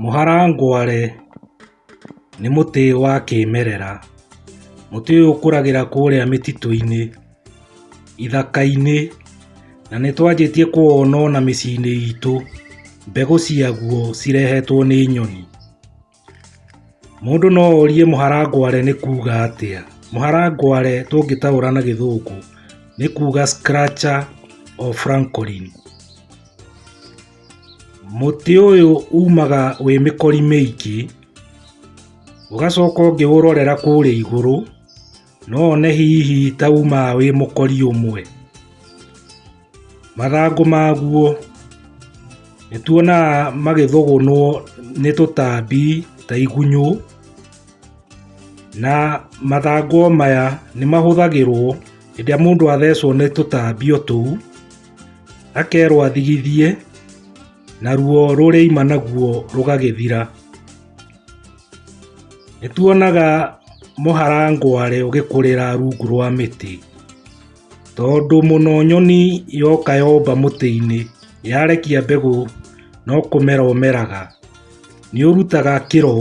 Mũharangware nĩ mũtĩ wa kĩmerera. Mũtĩ ũyũ ũkũragĩra kũrĩa mĩtitũ-inĩ, ithaka-inĩ na nĩ twanjĩtie kũwona ona mĩciĩ-inĩ itũ. Mbegũ ciaguo cirehetwo nĩ nyoni. Mũndũ no orie mũharangware nĩ kuuga atĩa. Mũharangware tũngĩtaũra na gĩthũngũ nĩ kuuga scratcher or francolin. Mũtĩ ũyũ umaga wĩ mĩkori mĩingĩ, ũgacoka ũngĩũrorera kũrĩa igũrũ, No one hihi ta umaga wĩ mũkori ũmwe. Mathangũ maguo nĩ tuonaga magĩthũgũnwo nĩ tũtambi ta igunyũ, na mathangũ o maya nĩ mahũthagĩrwo hĩndĩ ĩrĩa mũndũ athecwo nĩ tũtambi o tũu, akerwo athigithie na ruo rũrĩa aima naguo rũgagĩthira. Nĩ tuonaga mũharangware ũgĩkũrĩra rungu rwa mĩtĩ, tondũ mũno nyoni yoka yomba mũtĩ-inĩ yarekia mbegũ no kũmera ũmeraga. Nĩ ũrutaga kĩro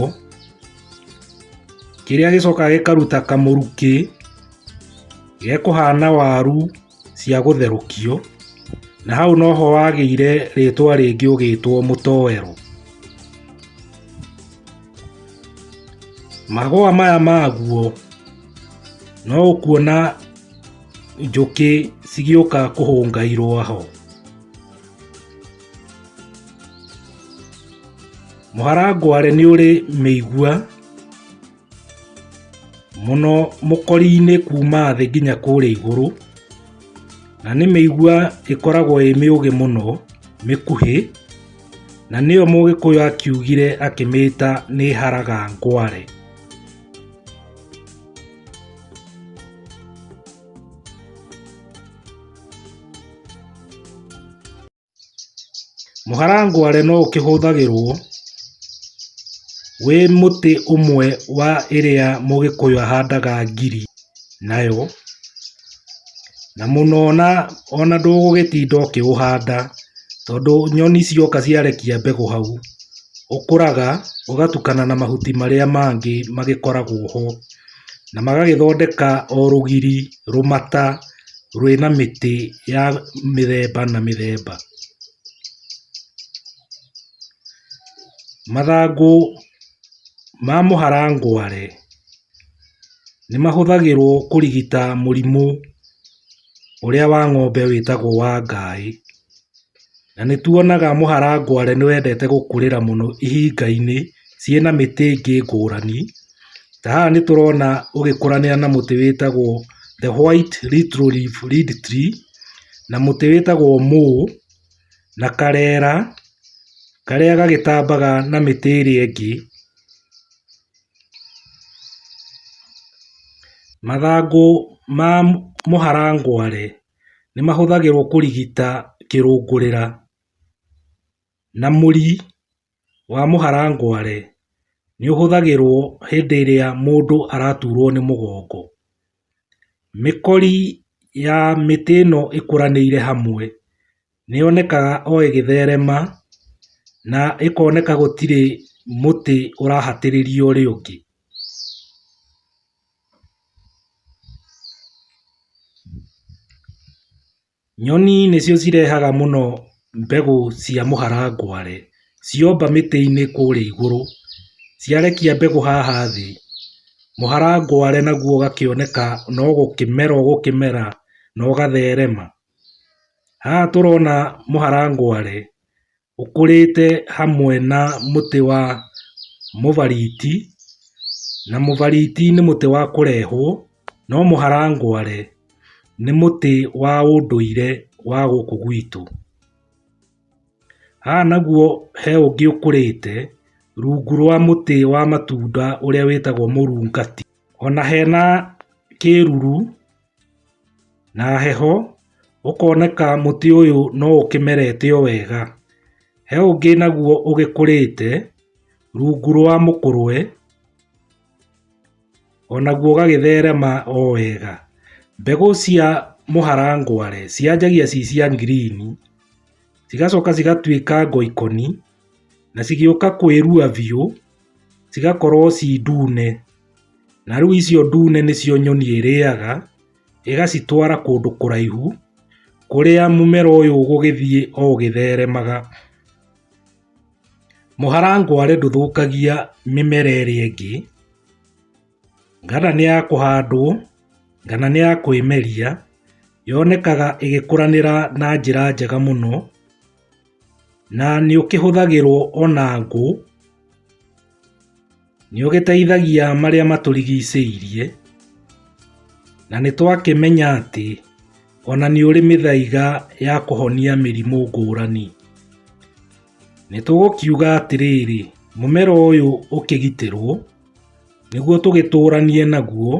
kĩrĩa gĩcokaga gĩkaruta kamũrukĩ gekũhana waru. cia gũtherũkio, na hau noho wagĩire rĩtwa rĩngĩ ũgĩtwo mũtoero. Magũa maya maguo no ũkuona njũkĩ cigĩũka kũhũnga irũa ho. Mũharangware nĩ ũrĩ mĩigua. mũno mũkori-inĩ kuuma thĩ nginya kũrĩa igũrũ, na nĩ mĩigua ĩkoragwo ĩ mĩũgĩ mũno, mĩkuhĩ, na nĩyo mũgĩkũyũ akiugire akĩmĩta nĩ haraga ngware. Mũharangware no ũkĩhũthagĩrwo wĩ mũtĩ ũmwe wa ĩrĩa mũgĩkũyũ ahandaga ngiri nayo, na mũno ona ona ndũgũgĩtinda ũkĩũhanda, tondũ nyoni cioka ciarekia mbegũ hau, ũkũraga ũgatukana na mahuti marĩa mangĩ magĩkoragwo ho, na magagĩthondeka o rũgiri, rũmata rwĩna mĩtĩ ya mĩthemba na mĩthemba. Mathangũ ma mũharangware nĩ mahũthagĩrwo kũrigita mũrimũ ũrĩa wa ng'ombe wĩtagwo wa ngaĩ. Na nĩtuonaga mũharangware nĩwendete gũkũrĩra mũno ihingainĩ ciĩna mĩtĩ ĩngĩ ngũrani. Ta haha nĩtũrona ũgĩkũranĩra na mũtĩ wĩtagwo the white little leaf reed tree na mũtĩ wĩtagwo mũũ na karera karĩa gagĩtambaga na mĩtĩ ĩrĩa ĩngĩ. Mathangũ ma mũharangware nĩ mahũthagĩrwo kũrigita kĩrũngũrĩra na mũri wa mũharangware nĩ ũhũthagĩrwo hĩndĩ ĩrĩa mũndũ araturwo nĩ mũgongo. Mĩkori ya mĩtĩ ĩno ĩkũranĩire hamwe nĩ yonekaga o ĩgĩtherema na ĩkoneka gũtirĩ mũtĩ ũrahatĩrĩria ũrĩa ũngĩ. Nyoni nĩcio cirehaga mũno mbegũ cia mũharangware, ciomba mĩtĩ-inĩ kũrĩa igũrũ, ciarekia mbegũ haha thĩ, mũharangware naguo ũgakĩoneka no gũkĩmera ũgũkĩmera na ũgatherema. Haha tũrona mũharangware ũkũrĩte hamwe na mũtĩ wa mũbariti, na mũbariti nĩ mũtĩ wa kũrehwo, no mũharangware nĩ mũtĩ wa ũndũire wa gũkũ gwitũ. Haha naguo he ũngĩ ũkũrĩte rungu rwa mũtĩ wa matunda ũrĩa wĩtagwo mũrungati. Ona hena kĩruru. Na heho, ũkoneka mũtĩ ũyũ no ũkĩmerete o wega. He ũngĩ naguo ũgĩkũrĩte rungu rwa mũkũrwe, onaguo ũgagĩtherema o wega. Mbegũ cia mũharangwa-rĩ, cianjagia ci cia ngirini, cigacoka cigatuĩka ngoikoni. na cigĩũka kwĩrua biũ, cigakorwo ci ndune, na rĩu icio ndune nĩcio nyoni ĩrĩaga, ĩgacitwara kũndũ kũraihu, kũrĩa mũmera ũyũ ũgũgĩthiĩ o ũgĩtheremaga. Mũharangware ndũthũkagia mĩmera ĩrĩa ĩngĩ, kana nĩ ya kũhandwo, kana nĩ ya kwĩmeria, yonekaga ĩgĩkũranĩra na njĩra njega mũno. Na nĩũkĩhũthagĩrwo ona ngũ, nĩũgĩteithagia marĩa matũrigicĩirie, na nĩtwakĩmenya atĩ ona nĩũrĩ mĩthaiga ya kũhonia mĩrimũ ngũrani. Nĩtũgũkiuga atĩrĩrĩ, mũmera ũyũ ũkĩgitĩrwo nĩguo tũgĩtũranie naguo.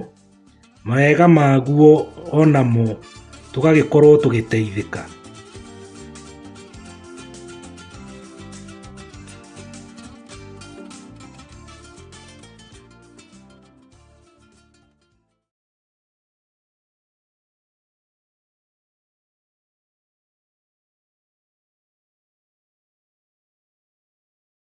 Mawega maguo onamo tũgagĩkorwo tũgĩteithĩka.